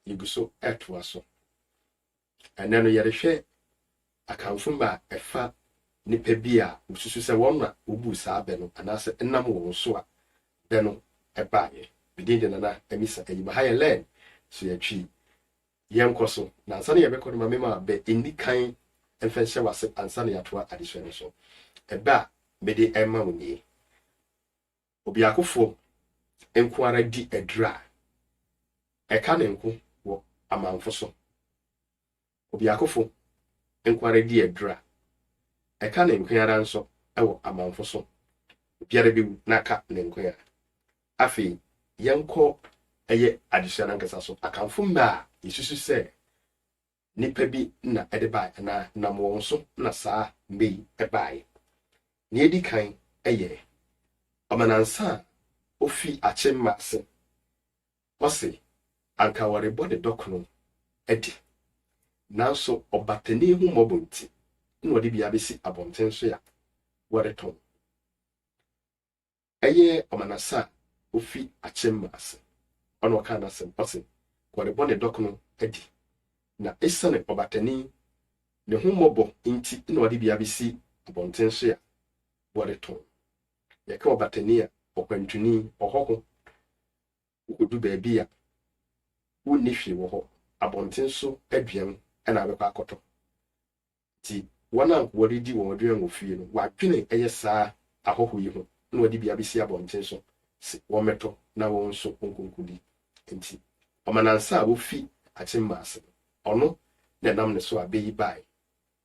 yɛgu so ɛtoa so. Ɛnɛ no yɛrehwɛ akanfo mma a ɛfa nnipa bi a wosusu sɛ wɔn na wobuu saa bɛ no anaasɛ ɛnam wɔn so a bɛ no ɛbaeɛ. Medin de Nana Amisa Ayimaha yɛ lɛn so yɛtwi yɛnkɔ so na ansa na yɛbɛkɔ no ma mema bɛ nni kan mfa nhyɛ wase ansa na yɛatoa adesua no so. Ɛbɛ a mede ɛma wo nie. Obiakofo nko ara di aduru a ɛka ne nko wɔ amamfo so. Obiakofo nko ara di aduru a ɛka ne nko ara nso wɔ amamfo so. Obiara bewu na aka ne nko ara. Afei yɛnkɔ ɛyɛ adesua no ankasa so. Akanfo mmɛ a yesusu sɛ Nnipa bi na ɛde bae anaa nam wɔn so na saa mmɛ yi bae. Nea edi kan yɛ Ɔmanansa a ofi Akyem Maase. Ɔse anka wɔrebɔ ne dɔkono adi, nanso ɔbatani ho mmɔbɔ nti na ɔde bi abesi abɔnten so a wɔretɔn. Ɛyɛ Ɔmanase a ofi Akyem ase. Ɔna ɔkaa n'asɛm, ɔse, Wɔrebɔ ne dɔk no adi, na esiane ɔbatani ne ho mmɔbɔ nti na ɔde bea bi si abɔnten so a wɔretɔn. Yɛka ɔbatani a, ɔkwantuni, ɔhɔho. Wokodu baabi a wonni hwee wɔ hɔ, abɔnten so aduan na abɛkɔ akɔtɔ. Nti wɔn a wɔde di wɔn aduan wɔ fie no, wɔadwene yɛ saa ahɔho yi ho na wɔde bi abɛsi abɔnten so se wɔmmɛtɔ na wɔn nso wɔnkɔnkɔdi. Nti Ɔmanansa a ɔfi akyemma ase no, ɔno na ɛnam ne so a bɛ yi baae.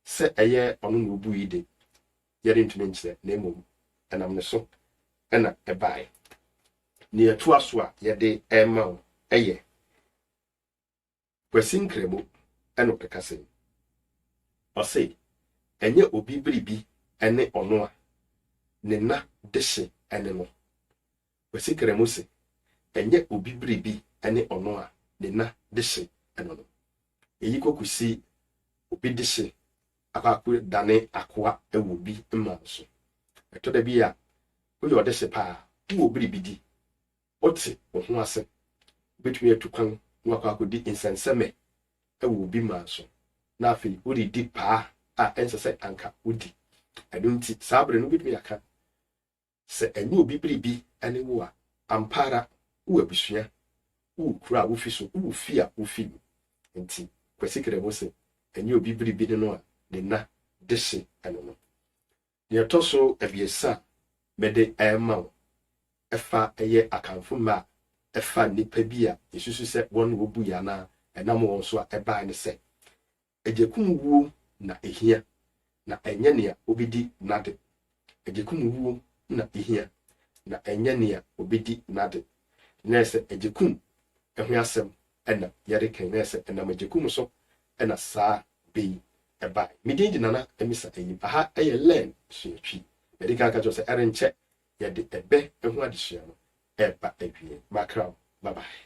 Sɛ ɛyɛ ɔno na ɔbui de, yɛrentumi nkyerɛ, na mmom ɛnam ne so na ɛbaae. Nea ɛtoa so a yɛde rema wo yɛ. Kwasi Nkramo na ɔrekasa yi. Ɔse ɛnyɛ obi biribi ne ɔno a ne na dehye ne no. Kwasi Nkramo se ɛnyɛ obi biribi ne ɔno a ne na dehye no no. Eyi kɔ kosi obi dehye akɔ akɔ dane akoa wɔ obi mma no so. Ɛtɔ da bi a woyɛ ɔdehye paa, wowɔ biribi di Wote wo ho ase? Wubetumi atu kwan na woakɔ akodi nsɛnsɛmɛ wɔ obi man so, na afei woredi paa a ɛnsɛ sɛ anka wudi. Ɛno nti, saa bere no wubetumi aka, Sɛ ɛnyɛ obi biribi ne wo a, ampa ara wowɔ abusua, wowɔ kurow a wufi so, wowɔ fie a wufi mu. Enti Kwasi Keremo se, Ɛnyɛ obi biribi ne no a ne nna dehye no no. Nea ɛtɔ so abiɛsa a mede rema wo fa yɛ Akanfo mmɛ a ɛfa nnipa bi a yesusu sɛ wɔn na wobui anaa ɛnam wɔn so a ɛbae no sɛ, Agyekumuwuo na ehia, na ɛnyɛ nea obedi n'ade. Agyekumuwuo na ehia, na ɛnyɛ nea obedi n'ade. Nnɛ sɛ agyekum ho asɛm Ɛna yɛde kan na ɛsɛ ɛnam agyakum so na saa bɛ yi bae. Me din de Nana Amisa Ayim. Aha yɛ Learn Suatwi. Madi kan aka kyerɛ wo sɛ ɛrenkyɛ yɛde ɛbɛ ho adesua no reba awiei. Makra wo. Bye bye.